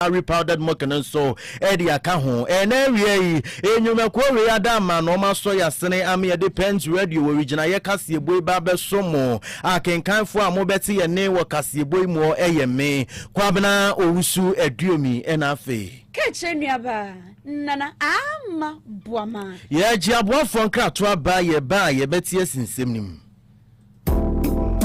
Gari powdered milk no nso de aka ho. Ɛna awia yi, nnwumakuo wei ada ama na wɔasɔ yɛn asene ama yɛde Pent Radio wɔ Wigyinaeɛ kaseɛbɔ yi ba abɛso mo. Akenkanfoɔ a mobɛte yɛn nne wɔ kaseɛbɔ yi muɔ yɛ me, Kwabena Owusu Aduomi na afei. Kaakyire nuabaa, Nana Aama Boamaa. Yɛagye aboafoɔ nkratoɔ aba, yɛba a yɛbɛte asi nsɛm no mu.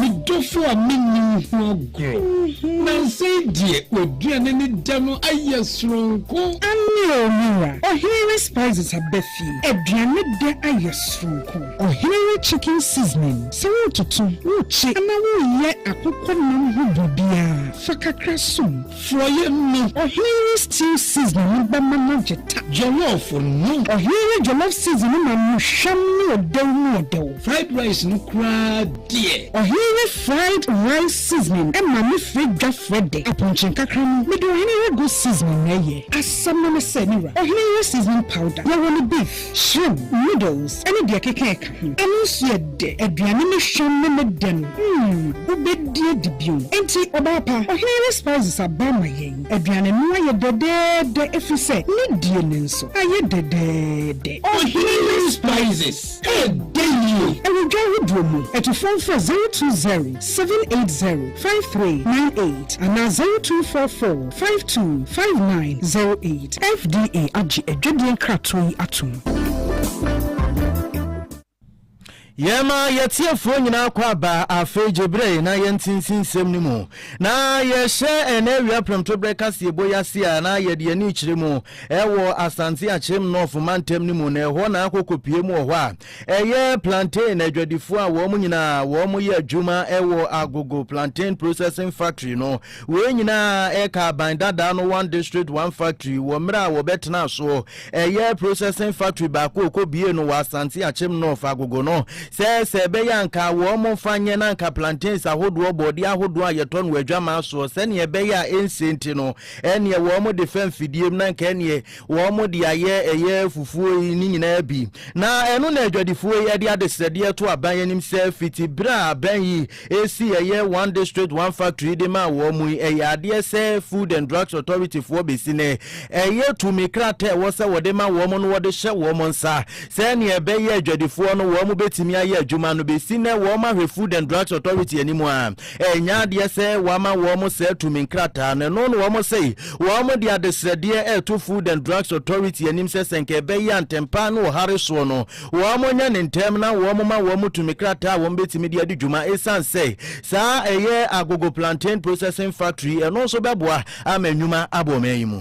Me dɔfo a minni wo ho agorɔ. Nnansa yi deɛ, w'aduane ne dɛ no ayɛ soronko. Aane o, me wura. Ɔhene we spices aba fie. Aduane dɛ ayɛ soronko. Ɔhene we chicken seasoning. Sɛ wototo, wokye anaa woyɛ akokɔ nam ho biribiara, fa kakra som. Forɔeɛ no. Ɔhene no stew seasoning no bɛma no agye ta. Jollof no. Ɔhene no jollof seasoning no ma no hwam ne ɔdɛw mu ɔdɛw. Fried rice no koraa deɛ. Ɔhene no fried rice seasoning ma me frɛ dwa frɛ dɛ. Apɔnkye nkakra no, mede ɔhene no goat seasoning na ɛyɛ. Asɛm no ne sɛ, me wura, ɔhene no seasoning powder, yɛwɔ no beef. Shrimp, noodles ne deɛ ɛkeka ɛka ho. Ɛno nso yɛ dɛ. Aduane no hwam ne ne dɛ no, mm, wobɛdi adi bio. Enti, ɔbaa pa, ɔhene ne spices aba ama yɛn. Aduane no ayɛ dɛdɛɛdɛ ɛfiri sɛ ne die no nso ayɛ dɛdɛɛdɛ. Ɔhene ne spices ɛyɛ dɛ yie. Ɛwɔ dwa ahodoɔ mu. Atufoɔ mfrɛ zero two zero. seven eight zero five three nine eight anaa zero two four four five two five nine zero eight. FDA agye adwadie nkratoɔ yi atom. Yɛma yɛtiefoɔ nyinaa kɔ aba afei gye berɛ na yɛnte nsinsɛm no mu. Na yɛhyɛ ɛnɛ awia prɛmtoberɛ kaseɛbɔ yi ase a na yɛde ani kyerɛ mu ɛwɔ Asante Akyem North mantam no mu na ɛhɔ na akokopie mu wɔ hɔ a Ɛyɛ plantain adwadifoɔ a wɔn nyinaa wɔyɛ adwuma wɔ Agogo Plantain Processing Factory no. Wei nyinaa ka aban dadaa no One District One Factory wɔ mmerɛ a wɔbɛtenaa soɔ. Ɛyɛ processing factory baako a wɔkɔbuee no wɔ Asante Akyem North, Agogo no. Sɛ sɛ ɛbɛyɛ a anka wɔmfa nyɛ na anka plantains ahodoɔ, borɔdeɛ ahodoɔ a yɛtɔ no wɔ adwaman soɔ, sɛdeɛ ɛbɛyɛ a ɛnsie nti no, ɛnneɛ wɔde fa mfidie mu na anka ɛnneɛ Wɔde ayɛ ɛyɛ fufuo yi ne nyinaa bi, na ɛno na adwadifoɔ yi de adesrɛdeɛ to aban anim sɛ fiti berɛ a aban yi sii ɛyɛ One District, One Factory de maa wɔn yi, ɛyɛ adeɛ sɛ Food and Drugs Authority foɔ bɛsi nnɛ, ɛyɛ tumi krataa a ɛwɔ sɛ wɔde ma wɔn no wɔde hyɛ wɔn nsa sɛdeɛ ɛbɛyɛ a adwadifoɔ no wɔbɛtumi ayɛ adwuma no. Bɛsi nnɛ wɔn ahwɛ Food and Drugs Authority anim a. Ɛnyɛ adeɛ sɛ wama wɔn saa tumi nkrataa no, ɛno na wɔn sɛe. Wɔn de adesrɛdeɛ reto Food and Drugs Authority anim sɛ sɛ nka ɛbɛyɛ a ntɛmpa ne ɔhare soɔ no, wɔn nyɛ no ntɛm na wɔn ma wɔn tumi krataa a wɔn bɛtumi de adi dwuma ɛsiane sɛ saa ɛyɛ Agogo Plantain Processing Factory ɛno nso bɛboa ama nnwuma aba ɔman yi mu.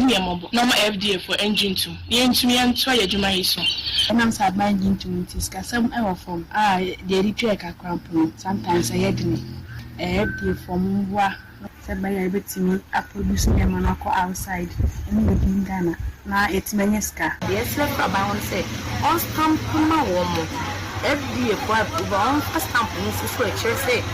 Hu yɛn mmɔbɔ na ɔma FDA foɔ ɛngye ntum na yɛntumi ɛntoa yɛn adwuma yi so. Ɛnam sɛ aban gye ntum nti sikasɛm ɛwɔ fam a deɛ yɛde twa yɛn kakra mpo no sometimes ɛyɛ dene. Ɛyɛ FDA foɔ mo mmoa na. Sɛ ɛbɛyɛ a yɛbɛtumi a produce nneɛma no akɔ outside ɛne within Ghana na yɛatumi anya sika. Yɛsrɛ kora aban hɔ no sɛ ɔnstamp ma wɔn. FDA foɔ approve a ɔmfa stamp no nso so ɛkyerɛ sɛ.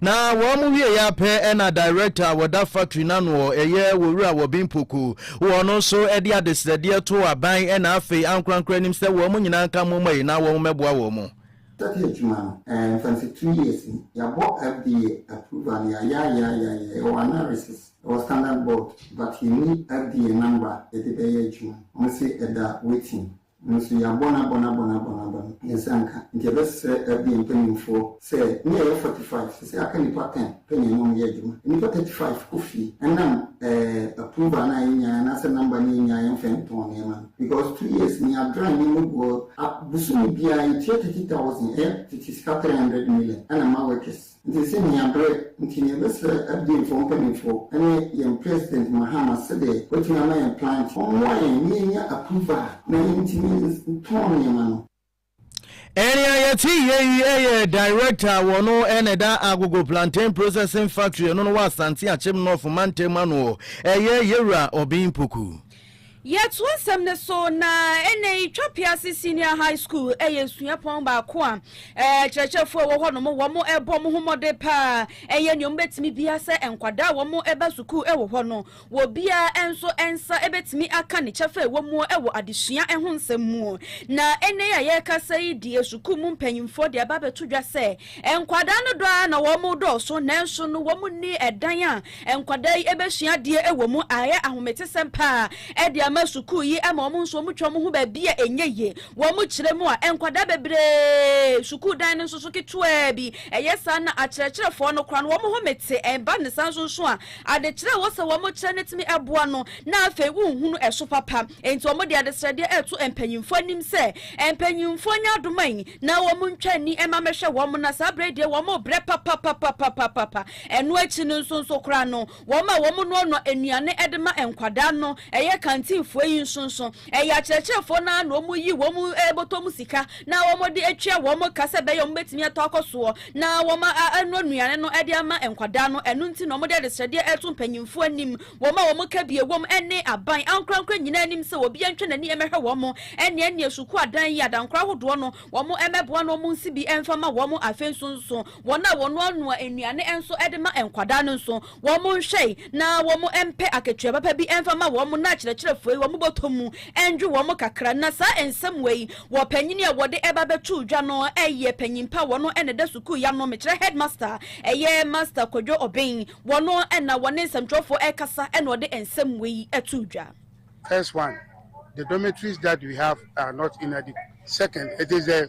Na wɔn wieɛ ara pɛ na director a wɔda factory no ano ɔ ɛyɛ Owura Wɔben Poku wɔ no nso de adesrɛdeɛ too aban na afei ankorankoro anim sɛ wɔn nyinaa nka moma yi na wɔn mɛboa wɔn mo. Study adwuma no ɛɛ mfɛmfɛ two years ni. Yɛabɔ FDA approval no yɛayeayeayeayeaeɛ yɛwɔ analysis ɛwɔ standard board but yɛnni FDA number yɛde bɛyɛ adwuma no. Wɔn se ɛda waiting. Nanso yɛabɔ no abɔ no abɔ no abɔ no abɔ no, yɛn nsa nka. Enti yɛbɛsrɛ FBM mpanimfoɔ sɛ, na yɛyɛ forty five, seesei aka nnipa ten pɛ na yɛne wɔn yɛ adwuma. Nnipa thirty five kɔ fie. Ɛnam ɛɛ approval no a yɛnyaeɛ anaasɛ number no a yɛnyaeɛ yɛmfa ntɔn nneɛma no. Because two years ni yɛadrive nneɛma gu hɔ. A bosome biara yɛtua thirty thousand, ɛyɛ tete sika three hundred million ɛna ɛma workers. Nti sɛ minya ber ntsi mebɛserɛ FDMfoɔ mpanyimfoɔ ne yɛn President Mahama sɛdeɛ watumi ama yɛn plant ɔmmoa yɛn na yɛnya approval na yɛntumi ntɔn nneɛma no. Nea yɛte yɛ yi yɛ Director a wɔno na ɛda Agogo Plantain Processing Factory ɛno no wɔ Asante Akyem North mantam ano hɔ, ɛyɛ Yɛwura Obeng Poku. Yɛtoa asɛm no so na ɛnnɛ yi Twa Pease Senior High School yɛ suapɔn baako a akyerɛkyerɛfoɔ a ɛwɔ hɔ nom wɔn bɔ wɔn ho mmɔden paa yɛ nea wɔn bɛtumi biara sɛ nkwadaa a wɔn ba sukuu wɔ hɔ no wɔ biara nso nsa bɛtumi aka ne kyɛfa a ɛwɔ mu wɔ adesua ho nsɛm mu na ɛnnɛ yi a yɛrekasa yi deɛ sukuu mu mpanyinfoɔ de aba abɛto dwa sɛ nkwadaa no dɔ ara na wɔn dɔɔso nanso no wɔn nni ɛdan a Nkwadaa yi bɛsua adeɛ wɔ mu, ayɛ ahometesɛm paa de ama sukuu yi ma wɔn nso wɔtwa wɔn ho baabi a ɛnyɛ yie. Wɔkyerɛ mu a, nkwadaa bebree, sukuu dan no nso so ketewaa bi, ɛyɛ saa na akyerɛkyerɛfoɔ no koraa no wɔn ho mete. Ɛba no saa nso nso a, adekyerɛ a ɛwɔ sɛ wɔkyerɛ no tumi boa no na afei wonhunu ɛso papa. Enti wɔde adesrɛdeɛ reto mpanimfoɔ anim sɛ mpanimfoɔ nyɛ adomayi na wɔntwa ani mma mmɛhwɛ wɔn na saa berɛ yi deɛ wɔbrɛ papapapapapapa. Ɛno akyi no nso nso koraa no, wɔn a wɔnoanoa nnuane de ma nkwadaa no, ɛyɛ kantinfoɔ yi nso nso, ɛyɛ akyerɛkyerɛfoɔ no ara na wɔyi wɔn bɔtɔ mu sika na wɔde tua wɔn ka sɛ ɛbɛyɛ a wɔbɛtumi atɔ akɔ soɔ na wɔanoa nnuane no de ama nkwadaa no. Ɛno nti na wɔde adesrɛdeɛ reto mpanimfoɔ anim, wɔn a wɔn kabie wom ne aban ankorankora nyinaa anim sɛ obiara ntwa n'ani mmɛhwɛ wɔn ɛnneɛnneɛ sukuu adan yi adankora ahodoɔ no, wɔmmɛboa na wɔnsi bi mfa mma wɔn. Afei nso nso, Wɔn a wɔnoanoa nnuane nso de ma nkwadaa no nso, wɔn nhwɛe na wɔn mpɛ akatua papa bi mfa mma wɔn na akyerɛkyerɛfo yi wɔn bɔtɔ mu ndwo wɔn kakra. Na saa nsɛm wei wɔ panyin a wɔde ba bɛtoo dwa no yɛ panyin pa wɔn na ɛda sukuu yi ano mekyerɛ headmaster ɛyɛ Master Kwadwo Obeng wɔn na wɔne nsɛmtwerɛfoɔ ɛkasa na ɔde nsɛm wei too dwa. First one, the dormitories that we have are not inadequate. Second, it is the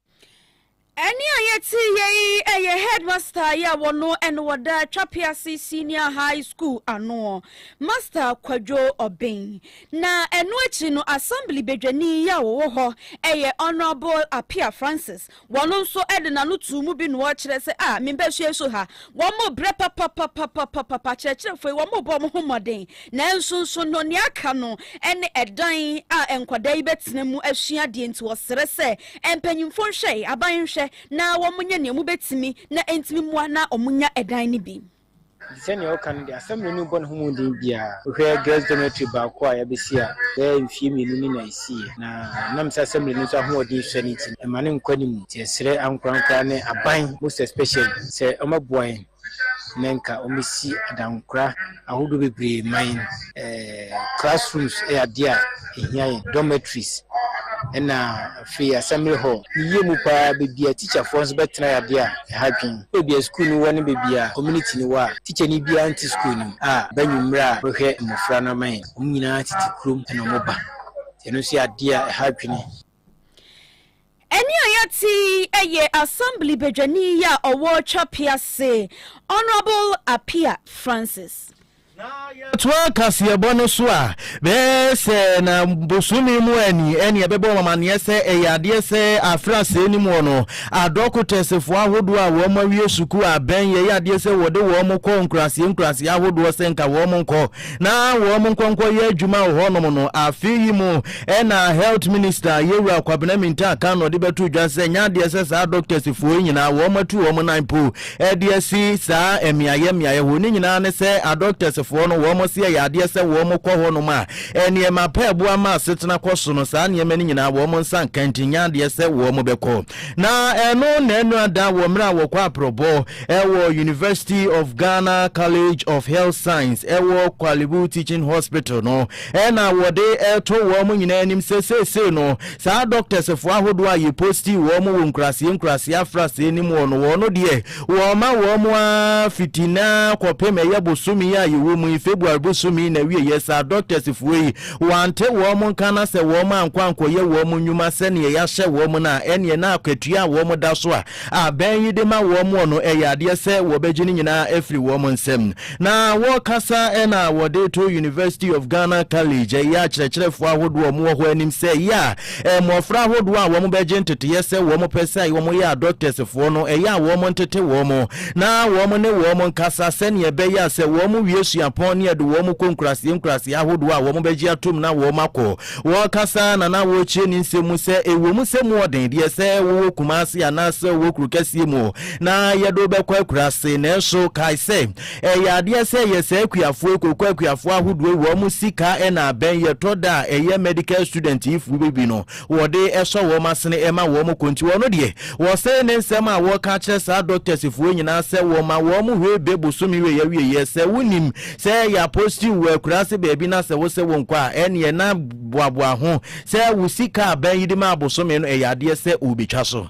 Ɛnne a yɛteeɛ yi yɛ headmaster yi a wɔno ɛne wɔda Twapease Senior High School anoɔ, Master Kwadwo Obeng. Na ɛno akyi no Assembly badwani yi a ɔwɔ hɔ yɛ Honourable Appiah Francis, wɔno nso de n'ano too mu bi na ɔrekyerɛ sɛ ah me mba sua su ha, wɔrebrɛ papapapapapapa, akyerɛkyerɛfoɔ yi wɔrebɔ wɔn ho mmɔden, nanso nso no nea aka no ne ɛdan a nkwadaa yi bɛtena mu asua adeɛ nti wɔsrɛ sɛ Mpanyimfo nhwɛe, aban nhwɛ na wɔnyɛ nea wobetumi na entumi mmoa na wɔnya dan no bi. Enti sɛ nea ɔka no de asɛm mmienu rebɔ ne ho mmɔden biara. Wohwɛ girls dormitory baako a yɛabesi a bɛyɛ mfeɛ mmienu ni na esiiɛ, na ɛnam sɛ assembly no nso ahoɔden sua no nti no, ɛma no nkɔ anim. Nti yɛsrɛ ankorankoraa ne aban most especially sɛ wɔbɛboa yɛn. na nka wɔbɛsi adankora ahodoɔ bebree ma yɛn. Eh, classrooms yɛ adeɛ a ɛhia yɛn, dormitories ɛna afei assembly hall. Ne yie mu paa baabi a tikyafoɔ nso bɛtena yɛ adeɛ a ɛha dwen. Baabi a sukuu no wɔ ne baabi a community no wɔ a tikyani biara nte sukuu no mu a ba anwummerɛ a bɛhwɛ mmɔfra no ama yɛn. Wɔn nyinaa tete kurom na wɔba nti ɛno nso yɛ adeɛ a ɛha dwene. Ɛne a yɛte yi yɛ Assembly badwani yi a ɔwɔ Twapease, Honourable Appiah Francis. Na yɛtoa kaseɛbɔ no so a, bɛyɛ sɛ na bosome mu a ni ɛne ɛbɛbɔ wɔn amaneɛ sɛ ɛyɛ adeɛ sɛ aferɛ asɛe no muɔ no, adɔkotɛsefoɔ ahodoɔ a wɔn awie sukuu abɛn yɛyɛ adeɛ sɛ wɔde wɔn kɔ nkuraseɛ nkuraseɛ ahodoɔ sɛ nka wɔn nkɔ. na wɔn nkɔ nkɔyɛ adwuma wɔ hɔnom no. Afe yi mu na health minister Yewura Kwabena Mintaa kan na ɔde bɛto dwa sɛ nyɛ adeɛ sɛ saa doctors foɔ yi nyinaa wɔn atu wɔn nan mpo de asi saa mmeaeɛ mmeaeɛ hɔ. Ne nyinaa ne sɛ adoctors foɔ no wɔn se ɛyɛ adeɛ sɛ wɔn kɔ hɔnom a nneɛma pa ɛboa ma asetena kɔ so no saa nneɛma no nyinaa wɔn nsa nka nti nyɛ adeɛ sɛ wɔn bɛkɔ. Na ɛno na ɛnora da wɔ mmerɛ a wɔkɔ aprɔbɔ wɔ University of Ghana College of Health Science ɛwɔ Korle Bu Teaching Hospital no na wɔde reto wɔn nyinaa anim sɛ seesei no saa doctors foɔ ahodoɔ a yɛ postii wɔn wɔ nkuraseɛ nkuraseɛ afraseɛ no mu hɔ no wɔn no deɛ wɔma wɔn ara fiti nnɛ ara kɔpem ɛyɛ bosome yi a yɛwɔ mu yi February bosome yi na awieɛ saa doctors foɔ yi Wɔante wɔn nka na sɛ wɔn ankɔ ankɔyɛ wɔn nnwuma sɛdeɛ yɛahyɛ wɔn no a, ɛnneɛ na akatua a wɔn da so a abɛn yi de ma wɔn no, ɛyɛ adeɛ sɛ wɔbɛgye ne nyinaa afiri wɔn nsam. Na wɔkasa na wɔde to University of Ghana College, ɛyɛ akyerɛkyerɛfoɔ ahodoɔ a wɔwɔ hɔ anim sɛ, yea, Mmofra ahodoɔ a wɔbɛgye nteteeɛ sɛ wɔpɛ sɛ wɔyɛ adɔktɛsfoɔ no, ɛyɛ a wɔntete wɔn na wɔne wɔn nkasa sɛnea ɛbɛyɛ a sɛ wɔwie suapɔn ne yɛde wɔn kɔ nkuraaseɛ nkuraaseɛ ahodoɔ a wɔbɛgye atom na wɔakɔ wɔkasa na na wɔkyerɛ ne nsɛm mu sɛ ɛwom sɛ mu ɔden deɛ sɛ wowɔ Kumase anaasɛ wowɔ kuro kɛseɛ mu na yɛde wobɛkɔ akuraase nanso kae sɛ Ɛyɛ adeɛ sɛ yɛ saa akuafoɔ yi koko akuafoɔ ahodoɔ yi wɔn sika na abɛn yɛ tɔ da a ɛyɛ medical student yi foɔ bi bi no wɔde sɔ wɔn asene ɛma wɔn kɔ nti wɔn deɛ wɔsɛe ne nsɛm a wɔka kyerɛ saa doctors foɔ nyinaa sɛ wɔma wɔn hwee be bosome wei awieɛ sɛ wo nim sɛ yɛ apostle wɔ akuraase baabi na sɛ wo sɛ wo nkɔ a ɛneɛ na boaboa ho sɛ wo sika abɛn yi de maa bosome no ɛyɛ adeɛ sɛ ɔbɛtwa so.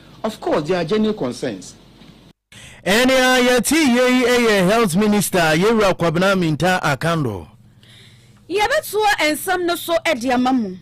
Of course there are genuine concerns. Ɛnea yɛte yei yɛ Health Minister Yewura Kwabena Mintah Akando. Yɛbɛtoa nsɛm no so de ama mo.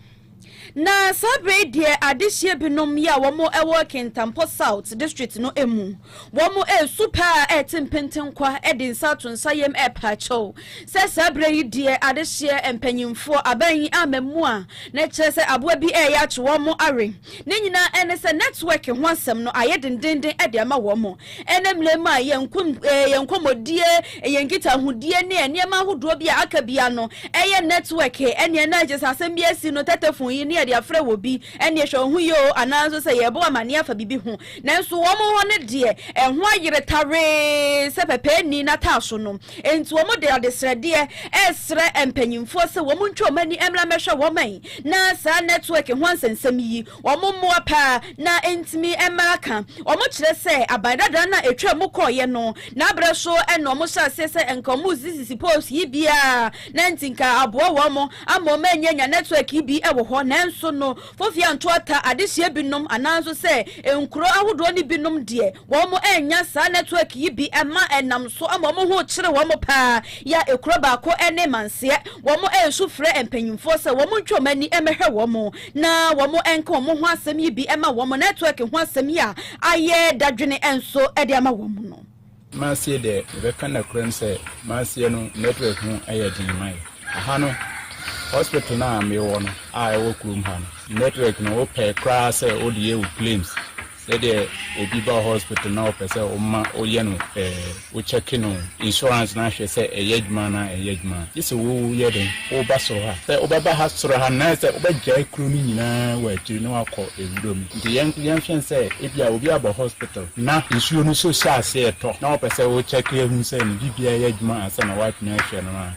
Na saa berɛ yi deɛ adehyeɛ binom yɛ a wɔn wɔ Kintampo South District no mu. Wɔn resu paa rete mpentenkwa de nsa ato nsa yam repaa kyɛw sɛ saa berɛ yi deɛ adehyeɛ mpanyimfoɔ aban yi ammɛmmoa na ɛkyerɛ sɛ aboa bi reyɛ akye wɔn awe. Ne nyinaa ne sɛ nɛtwɛk ho asɛm no ayɛ dendeenden de ama wɔn. Ɛnnɛ mmerɛ mu a yɛn nko yɛn nkɔmmɔdie, yɛn nkitahodie ne nneɛma ahodoɔ bi a aka biara no yɛ nɛtwɛk ɛnneɛ na gye sɛ asɛm bi asi no tɛtɛfon yi ne yɛde afrɛ wɔ bi ɛnneɛ hwɛ wo ho yie oo anaa nso sɛ yɛrebɔ wo amaneɛ afa biribi ho. Nanso wɔn hɔ no deɛ ɛho ayere tawee sɛ pɛpɛɛni n'ataaso no. Enti wɔde adesrɛdeɛ resrɛ mpanimfoɔ sɛ wɔn ntwa wɔn ani mmra mmɛhwɛ wɔn man na saa nɛtwɛk ho nsɛnsɛm yi, wɔn mmoa paa na ɛntumi mma aka. Wɔkyerɛ sɛ aban dadaa no a ɛtwaa mu kɔeɛ no, n'aberɛ so na wɔhyɛɛ aseɛ sɛ nka wɔresisisi poles yi biara na nti nka aboa wɔn ama wɔn anyanya nɛtwɛk yi bi wɔ hɔ. Nanso no, Fofia Ntoata adehyeɛ binom anaa nso sɛ nkuro ahodoɔ no binom deɛ, Wɔannya saa nɛtwɛk yi bi mma ɛnam so ama wɔn ho kyere wɔn paa yɛ a ekuro baako ne Manseɛ. Wɔresu frɛ mpanyinfoɔ sɛ wɔn ntwe wɔn ani mmɛhwɛ wɔn na wɔn nka wɔn ho asɛm yi bi mma wɔn. Nɛtwɛk ho asɛm yi a ayɛ dadwene nso de ama wɔn no. Manseɛ deɛ yɛbɛka nokorɛm sɛ Manseɛ no nɛtwɛk ho yɛ den ma yɛ. Ɛha no hospital no a mewɔ no a ɛwɔ kurom ha no nɛtwɛk no wopɛ koraa sɛ wode yɛ wo claims. Sɛ deɛ obi ba hospital na ɔpɛ sɛ woma woyɛ no ɛɛ wo check no insurance no ahwɛ sɛ ɛyɛ adwuma anaa ɛnyɛ adwuma a gye sɛ wo yɛ dɛn woba soro ha sɛ wobɛba ha soro ha no sɛ wobɛgyae kuro no nyinaa wɔ akyiri na wakɔ ɛwura mu nti yɛn yɛnhwɛ sɛ ebia obi abɔ hospital na nsuo no so hyɛ aseɛ tɔ na ɔpɛ sɛ wo check ahu sɛ ne biribiara yɛ adwuma ansa na woatumi ahwɛ no a.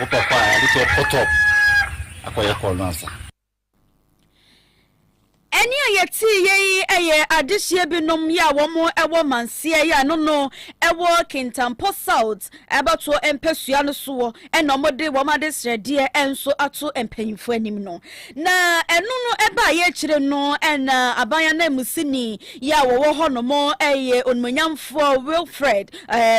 Wopɛ kɔ a, yɛade sɛ ɔkɔ top akɔyɛ call no ansa. Ɛnne a yɛteeɛ yi yɛ adehyeɛ binom yi a wɔn wɔ Manseɛ yi a ɛno no ɛwɔ Kintampo South abatoɔ mpɛsua no soɔ na wɔn de wɔn adesrɛdeɛ nso ato mpanyinfoɔ anim no. Na ɛno no ɛbaeɛ akyire no na aban ananmusini yi a wɔwɔ hɔ nom yɛ Onimuonyamfoɔ Wilfred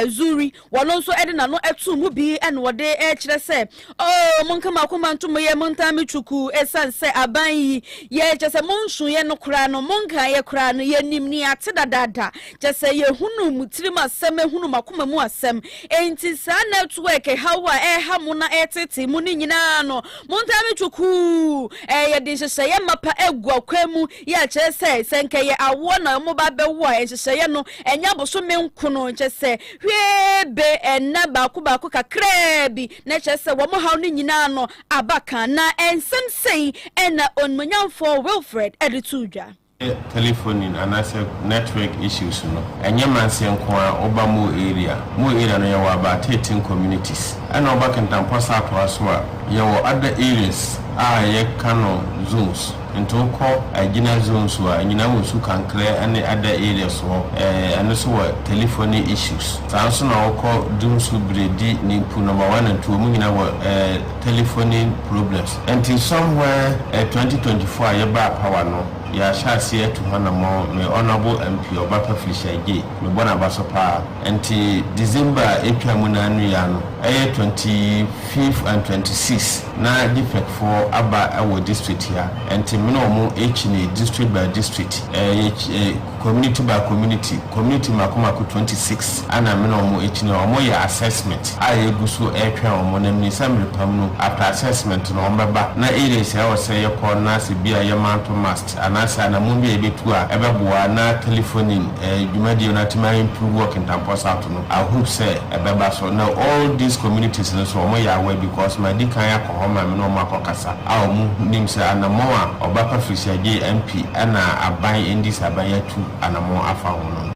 Zuri Wɔno nso de n'ano too mu bi na ɔde rekyerɛ sɛ, Oo, monka mo akoma nto mo yam, montaa me twukuu, esiane sɛ aban yi, yɛ, kyerɛ sɛ monsuuɛ no koraa no, monkaeɛ koraa no, yɛnim nea ate dadaada, kyerɛ sɛ yɛhunuu mo tirim asɛm, yɛhunuu mo akoma mu asɛm, enti saa nɛtwɛɛke haw a ɛreha mo na ɛreteetee mo no nyinaa no, montaa me twukuu, ɛɛ, yɛde nhyehyɛeɛ mapa agu akwan mu, yɛ a, kyerɛ sɛ, sɛ nka ɛyɛ awoɔ na wɔn ba bɛwo a, nhyehyɛeɛ no, ɛnyɛ abosome nko no, kyerɛ sɛ, hwee be nna baako baako kakraa bi, na kyerɛ sɛ, wɔn haw no nyinaa no aba ka. Na nsɛm sei na Onimuonyamfoɔ Wilfred de too dwa. Telefonin anaasɛ network issues no ɛnyɛ manseɛ nko ara, woba Mo area, Mo area no yɛwɔ about thirteen communities, ɛna woba Kintampo Asatoa nso a, yɛwɔ other areas a yɛka no zones. Ntow kɔ Aegina zone so a, enyina wɔ Su Kankerɛ ne other areas hɔ, eh, ɛno so wɔ telephony issues. Saa nso na wokɔ Dumsu, Biredi, Nimpu, Number One and Two, ɔmo nyina wɔ eh, telephony problems. Nti somewhere eh, twenty twenty four a yɛbaa power no, yɛahyɛ aseɛ atu ho anamɔn, me Honourable MP Ɔbaka Felicia Agyei, mebɔ n'abaso paa. Nti December a etwaa mu no ara no yi ara no, ɛyɛ twenty fifth and twenty sixth, Na Dipek foɔ aba wɔ district ha nti me ne wɔn rekyi ne district by district eh yɛ kyi eh community by community community mako mako twenty six ɛna me ne wɔn rekyi ne wɔn yɛ assessment a yɛ gu so retwɛn wɔn na mini sɛ mmerepam no after assessment no wɔn bɛba na areas a ɛwɔ sɛ yɛ kɔ na sɛ bia yɛ manto must. Anaasɛ anamɔn bi a yɛbɛtu a ɛbɛboa na telefonin dwumadie no atumi a improve wɔ Kintampo South no, I hope sɛ ɛbɛba so. Na all these communities no nso wɔyɛ aware because madi kan akɔ hɔ ma me ne wɔn akɔ kasa a wɔnim sɛ anamɔn a Ɔba Pa Firihyia Gyei MP ɛna aban NDC aban atu anamɔn afa ho no.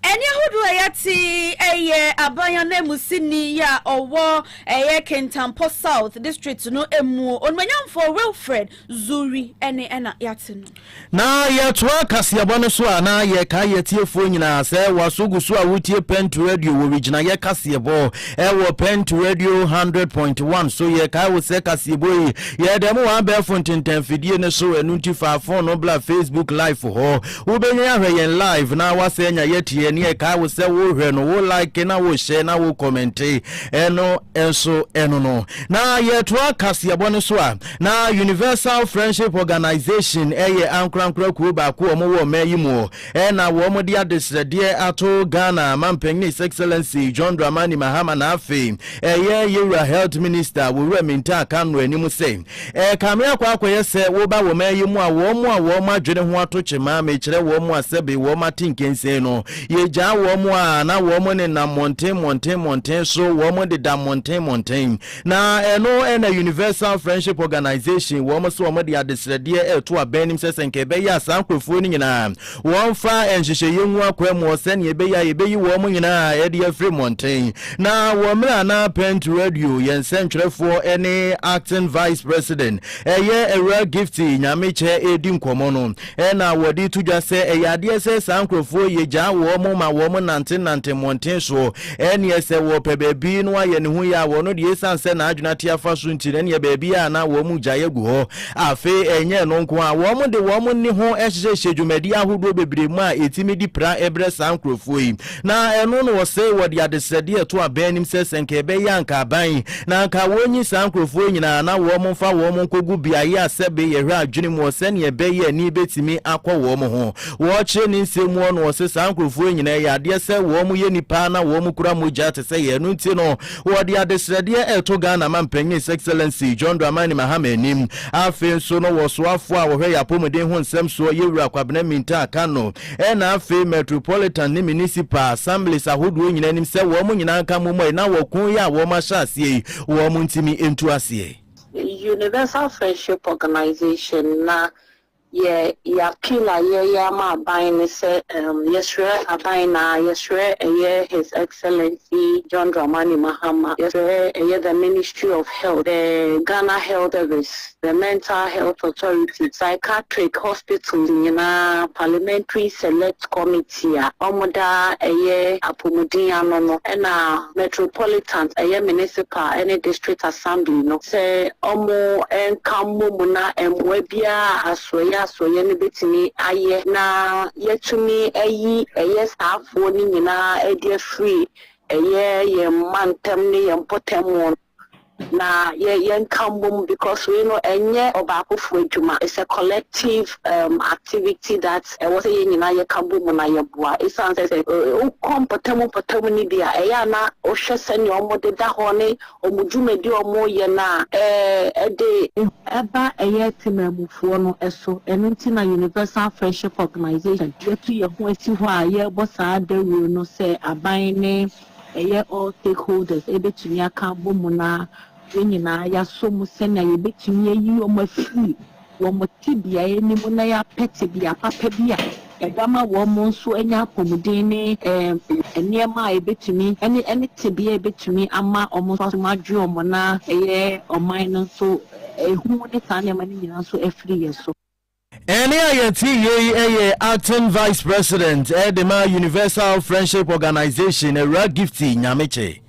Ɛnne ahodoɔ a yɛate ɛyɛ aban ananmusini yi a ɔwɔ ɛyɛ Kintampo South district no mu onumanyamfoɔ Wilfred Zuri ɛne ɛna yɛate no. Na yɛtoa kaseɛbɔ no so a na yɛka yɛ tiefoɔ nyinaa sɛ waso gu so a wotie Pent Radio wɔ wigyinayɛ kaseɛbɔ ɛwɔ Pent Radio 100.1 so yɛkae wo sɛ kaseɛbɔ yi yɛda mu wɔ abɛɛfo ntentan fidie no so ɛno nti fa fon no bla Facebook live hɔ Wobɛhwɛ ahwɛ yɛn live na woasɛ anya yɛteɛ ne ɛkae wo sɛ wohwɛ no wo like na wohyɛ na wo kɔmɛnte ɛno nso ɛno no na yɛtoa kaseɛbɔ no so a na Universal Friendship Organization ɛyɛ ankorankora kuo baako wɔn wɔ mmaa yi mu ɛna wɔn de adesrɛdeɛ ato Ghana mampanyini His Excellency John Dramani Mahama na afei ɛyɛ yɛwura Health Minister wɔwura Minta Kanu anim sɛ Ɛrekame akɔ akɔyɛ sɛ woba wɔ mɛyɛ mu a wɔn a wɔn adwene ho ato kyema mekyerɛ wɔn a sɛbe wɔn ate nkensen no, yegyaa wɔn a na wɔn nenam mmɔnten mmɔnten mmɔnten so, wɔn deda mmɔnten mmɔnten. Na ɛno na Universal Friendship Organization, wɔn se wɔn de adesrɛdeɛ reto abɛn nim sɛ sɛ nka ɛbɛyɛ a saa nkurɔfoɔ no nyinaa Wɔmfa nhyehyɛeɛ ngu akwammuo sɛdeɛ ɛbɛyɛ a yɛbɛyi wɔn nyinaa ɛde afiri mmɔnten. Na wɔ mmerɛ a na Pent Radio yɛ nsɛntwerɛfoɔ ne Acting Vice President ɛyɛ Awuraa Gifty Nyamekyɛ ɛredi nkɔmmɔ no, ɛna wɔde to dwa sɛ ɛyɛ adeɛ sɛ saa nkorɔfoɔ yi gyaa wɔn ma wɔn nante nante mmɔnten soɔ, ɛneɛ sɛ wɔpɛ baabi no ayɛ ne ho yie a wɔn deɛ ɛsiane sɛ n'adwene ate afa so nti no ɛneɛ baabiara na wɔn gyaeɛ gu hɔ Afei ɛnyɛ ɛno nko ara, wɔde wɔn nne ho hyehyɛ hyɛ dwumadi ahodoɔ bebree mu a ɛtumi de pira brɛ saa nkurɔfoɔ yi. Na ɛno na wɔsɛe wɔ de adesrɛdeɛ a ɛto abɛn anim sɛ sɛ anka ɛbɛyɛ a anka aban na anka wɔnyi saa nkurɔfoɔ yi nyinaa na wɔmfa wɔn nkɔgu beaeɛ a sɛbe yɛhwɛ adwene mu hɔ sɛdeɛ ɛbɛyɛ a ani bɛtumi akɔ wɔn ho. Wɔkyerɛ ne nsɛm mu hɔ no wɔse saa nkurɔfoɔ yi nyinaa ɛyɛ adeɛ sɛ wɔyɛ nnipa na wɔkura mogya te sɛ yɛn, ɛno nti no Wɔde adesrɛdeɛ reto Ghana Manpanin His Excellency John Dramani Mahama anim. Afei nso no wɔ soafoɔ a wɔhwɛ yɛn apɔmuden ho nsɛm soɔ Yɛwura Kwabena Mintah Kano ɛna afei Metropolitan ne Municipal Assemblies ahodoɔ nyinaa anim sɛ wɔn nyinaa nka mommɔ yi na ɔko yi a wɔn ahyɛ aseɛ yi wɔn ntumi ntu aseɛ. Universal Friendship Organization na Yɛ yɛ appeal a yɛ yɛ ama aban ne sɛ um yɛ srɛ aban na yɛ srɛ ɛyɛ His Excellency John Dramani Mahama, yɛ srɛ ɛyɛ the Ministry of Health, the Ghana Health Service, the Mental Health Authority, Psychiatric Hospitals nyinaa, Parliamentary Select Committee, City a wɔdaa ɛyɛ apomuden ano no ɛna Metropolitan ɛyɛ Municipal ɛne District Assembly no sɛ wɔn nka mmom na mmoa biara a asoɛeɛ asoɛeɛ no bɛtumi ayɛ na yɛatumi ayi ɛyɛ saafoɔ no nyinaa ɛde afiri ɛyɛ yɛn mantam ne yɛn mpɔtam no. na yɛ yɛnka mbom because wei no ɛnyɛ ɔbaakofo adwuma it's a collective um, activity that ɛwɔ sɛ yɛn nyinaa yɛka bɔ mu na yɛboa ɛsiane sɛ sɛ wokɔ mpɔtamu mpɔtamu no bi a ɛyɛ a na wohwɛ sɛnea wɔn deda hɔ ne wɔn dwumadi a wɔn yɛ no a ɛɛ ɛde ehu ɛba ɛyɛ temanmufoɔ no ɛso ɛno nti na Universal Friendship Organization yɛtu yɛn ho asi hɔ a yɛrebɔ saa dawuro no sɛ aban ne. ɛyɛ all stakeholders ɛbɛtumi aka abɔ mu na yɛn nyinaa yɛasɔ mu sɛnea yɛbɛtumi ayi wɔn afiri wɔn tebea yi mu na yɛapɛ tebea papa bi a ɛbɛma wɔn nso anya apɔmuden ne ɛɛ nneɛma a ɛbɛtumi ɛne ɛne tebea a ɛbɛtumi ama wɔn nso asom adwe wɔn na ɛyɛ ɔman no nso ehu ne saa nneɛma no nyinaa nso afiri yɛn so. Ɛnne a yɛte yei yɛ Acting Vice President de ma Universal Friendship Organization, Awuraa Gifty Nyamekye.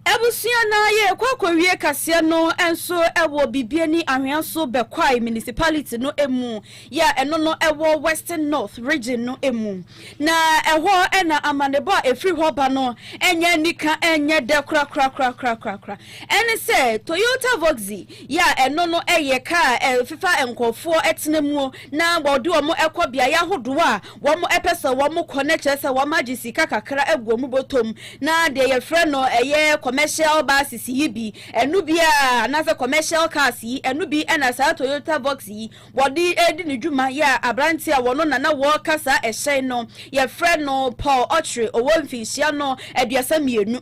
Abusua no ara yɛrekɔ akɔwie kaseɛ no nso wɔ Bibiani Anhwea so Bekwai Municipality no mu, yɛ a ɛno no wɔ Western North Region no mu. Na ɛhɔ na amanebɔ a ɛfiri hɔ ba no nyɛ anika, ɛnyɛ dɛ korakorakorakorakorakora. Ɛne sɛ Toyota Voxy yɛ a ɛno no yɛ ka a ɛfefa a nkorɔfoɔ tena muo na wɔde wɔn kɔ beaeɛ ahodoɔ a wɔn pɛ sɛ wɔn kɔ na kyerɛ sɛ wɔn agye sika kakra agu wɔn bɔtɔ mu na deɛ yɛfrɛ no ɛyɛ commercial buses yi bi ɛno bi a anaasɛ commercial cars yi ɛno bi na saa Toyota Vox yi wɔde redi ne dwuma yɛ a aberanteɛ a wɔno na na wɔreka saa ɛhyɛn no yɛfrɛ no Paul Okyere ɔwɔ mfinhyia no aduasa mmienu.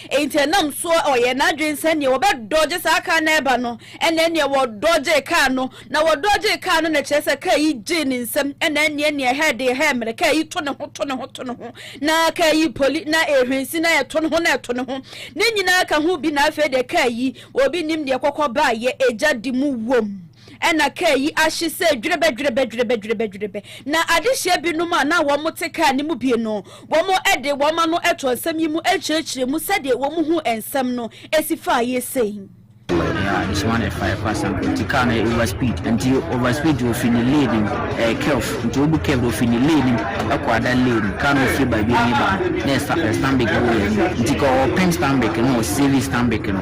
Enti ɛnam so ɔyɛɛ n'adwene sɛ nea wɔbɛdɔgye saa kar no ɛba no ɛna ɛneɛ wɔdɔgyee kar no na wɔdɔgyee kar no na kyerɛ sɛ kar yi gyee ne nsam ɛna ɛneɛ neɛ ɛhɛɛ deɛ ɛhɛɛ mmerɛ kar yi to ne ho to ne ho to ne ho na kar yi poli na ɛhwensi na ɛto ne ho na ɛto ne ho ne nyinaa ka ho bi na afei deɛ kar yi obi nim deɛ kɔkɔ baayɛ ɛgya de mu wom. Ɛnna kaa yi ahye sɛ dwerɛbɛ, dwerɛbɛ, dwerɛbɛ, dwerɛbɛ, dwerɛbɛ. Na adehyeɛ binom a na wɔte kaa no mu bi no, wɔde wɔn ano too nsɛm yi mu kyerɛkyerɛɛ mu sɛdeɛ wɔhuu nsɛm no si faeɛ sei. Yeah, this one is fire pass and nti car no over speed nti over speed ofi ne lane mu ɛyɛ curve nti obu curve ofi ne lane mu ɛkɔ ada lane mu car no fi baabi ne ba na ɛsa ɛstanbik wɔ yɛ nti ka ɔpem stanbik no ɔsave stanbik no.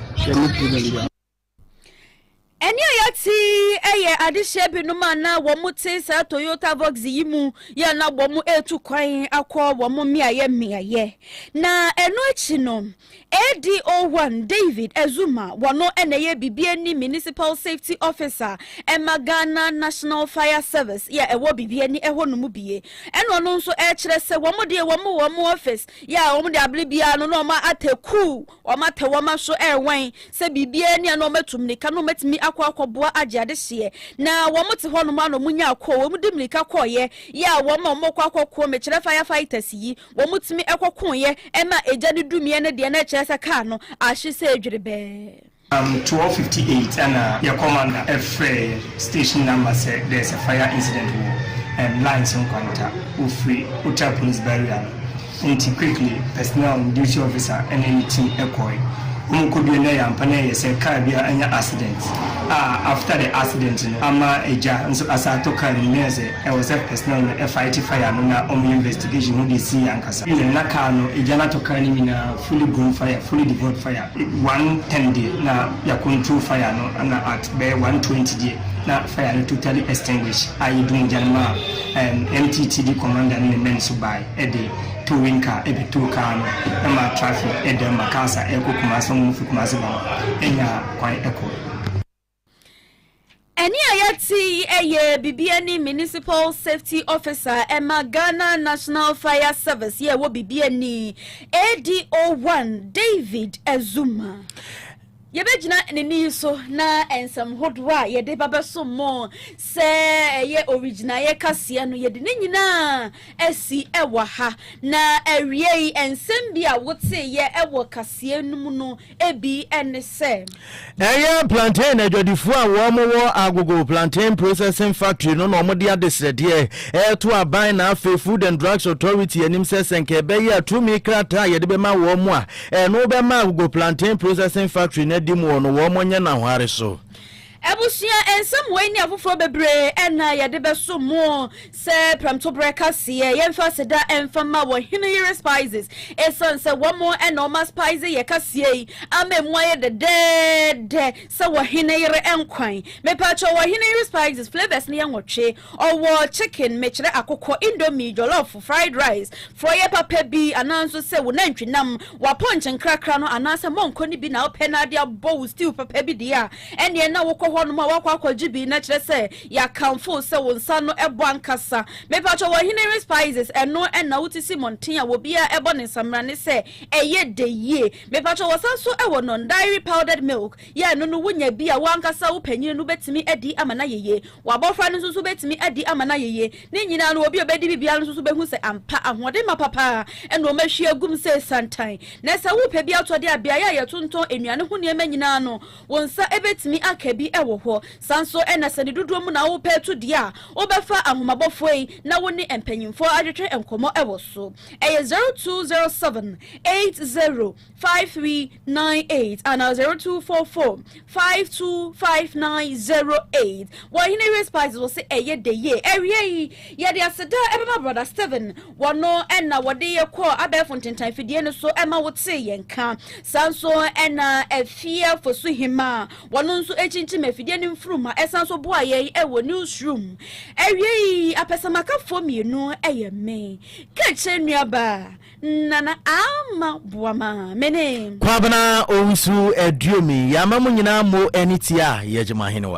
Ɛnne a yɛate yi yɛ adehyeɛ binom a na wɔte saa Toyota Vox yi mu yɛ a na wɔretu kwan akɔ wɔn mmeaeɛ mmeaeɛ. Na ɛno akyi no, ADO1 David Azuma, wɔn na ɛyɛ Bibie ne Municipal Safety Officer ma Ghana National Fire Service yɛ a ɛwɔ Bibie ne ɛhɔ no mu bie. Ɛna ɔno nso ɛkyerɛ sɛ wɔn deɛ wɔn wɔn office yɛ a wɔn de abere biara no na wɔn atɛ kuu. Wɔatɛ wɔn aso rewɛn sɛ biribiara nni a na wɔatu mmirika na wɔatumi akɔ akɔboa agye adehyeɛ. Na wɔte hɔnom ara na wɔnyaa kɔɔ. Wɔde mmirika kɔeɛ yɛ a wɔn a wɔkɔ akɔko mekyerɛ fire fighters yi, wɔtumi kɔkoeɛ ma egya no dumiiɛ no deɛ na ɛkyerɛ sɛ kaa no ahye sɛ dwerebɛɛ. Around twelve fifty eight ɛna yɛ commander frɛɛ station number sɛ there is a fire incident wɔ ɛɛm lines nkwanta, wɔfiri Ocha police barrier no. Enti Quickly, Personnel ne Duty Officer ne ne team kɔe. Wɔkɔduee no a ɛyɛ ampa na ɛyɛ sɛ car bi a anya accident a after the accident no ama gya nso asan atɔ car no mu na ɛyɛ sɛ ɛwɔ sɛ personnel no fight fire no na wɔyɛ investigation hu deɛ ɛsiiɛ ankasa. Ɛnna na car no, gya no atɔ car no nyinaa fully grown fire, fully devoid fire. One ten deɛ na yɛacontrol fire no na at bɛyɛ one twenty deɛ na fire no totally extinguished a yɛdum gya no maa MTTD Commander ne ne men nso bae. de towing car bɛtow car no ma traffic dan ma cars a ɛrekɔ Kumasi, wɔn a wɔfi Kumasi ba no nya kwan kɔ. Ɛnne a yɛte yi yɛ Bibi Ani Municipal Safety Officer ma Ghana National Fire Service yɛ ɛwɔ Bibi Ani, ADO-1, David Azumah. Yɛbɛgyina ne nne yi so na nsɛm hodoɔ a yɛde ba bɛsom mo sɛ ɛyɛ owigyinaeɛ kaseɛ no yɛde ne nyinaa asi wɔ ha. Na awiei nsɛm bi a woteeɛ wɔ kaseɛ no mu no bi ne sɛ. Ɛyɛ plantain adwadifoɔ a wɔn wɔ Agogo plantain processing factory no na wɔn de adesrɛdeɛ reto aban na afei Food and Drugs Authority anim sɛ sɛ nka ɛbɛyɛ a tumi krataa a yɛde bɛma wɔn a Ɛno bɛma agogo plantain processing factory no adi mu hɔ no wɔn nyɛ n'ahware so. Abusua nsɛm wei ne afoforɔ bebree na yɛde bɛso mo sɛ prɛmtoberɛ kaseɛ. Yɛmfa aseda mfa ma wɔ Heneyere Spices ɛsiane sɛ wɔn na wɔma spice yɛ kaseɛ yi ama ɛmu ayɛ dɛdɛɛdɛ sɛ wɔ Heneyere nkwan. Mepakyɛw, wɔ Heneyere Spices, flavours no yɛ nwɔtwe. Ɔwɔ chicken, mekyerɛ akokɔ, indomie, jollof, fried rice, frɔeɛ papa bi anaa nso sɛ wo nantwi nam, w'apɔnkye nkrakra no anaa sɛ mɔnkɔ no bi na wopɛ na ade abɔ wo stew papa bi deɛ a, ɛnneɛ na wokɔ hɔnom a woakɔ akɔgye bi na kyerɛ sɛ yɛakamfo wo sɛ wo nsa no bɔ ankasa. Mepakyɛ wɔ Hinnery Spices ɛno na wote si mmɔnten a obiara bɔ ne nsammrane sɛ ɛyɛ dɛ yie. Mepakyɛ wɔsan nso wɔ non-dairy powdered milk, yɛ ɛno no wonya bi a wo ankasa wo panin no bɛtumi adi ama no ayɛ yie. W'abɔfra no nso so bɛtumi adi ama no ayɛ yie. Ne nyinaa no, obi a ɔbɛdi bi biara no nso so bɛhu sɛ ampa ahoɔdenma papa ara na wɔahwie agum sɛ santan. Na sɛ worepɛ bi atɔ de a, beaeɛ a yɛtontɔn nnuane ho nneɛma nyinaa no, wo nsa bɛtumi aka bi wɔ hɔ. Saa nso na sɛ ne dodoɔ mu na worepɛ ato deɛ a, wobɛfa Ahomabofoɔ yi na wo ne mpanimfoɔ atwetwe nkɔmmɔ wɔ so. Ɛyɛ zero two zero seven eight zero. five three nine eight anaa zero two four four five two five nine zero eight wɔ hene race spice wɔ se ɛyɛ de yie ɛwia yi yɛde aseda ɛbɛma brɔda steven wɔno ɛna wɔde yɛ kɔ abɛɛfo ntentan fidie no so ɛma wote yɛn ka saa nso ɛna afia fosu hema wɔno nso ɛkyinkyim afidie no mfuruma ɛsan so boa yɛn ɛwɔ newsroom ɛwia yi apɛsamakafoɔ mmienu ɛyɛ me kɛkyɛ nnuaba Nana Ama boa ma mene. Kwabena Owusu Aduomi, Yama mo nyinaa mo ani tia Yɛgye mo ahenewa.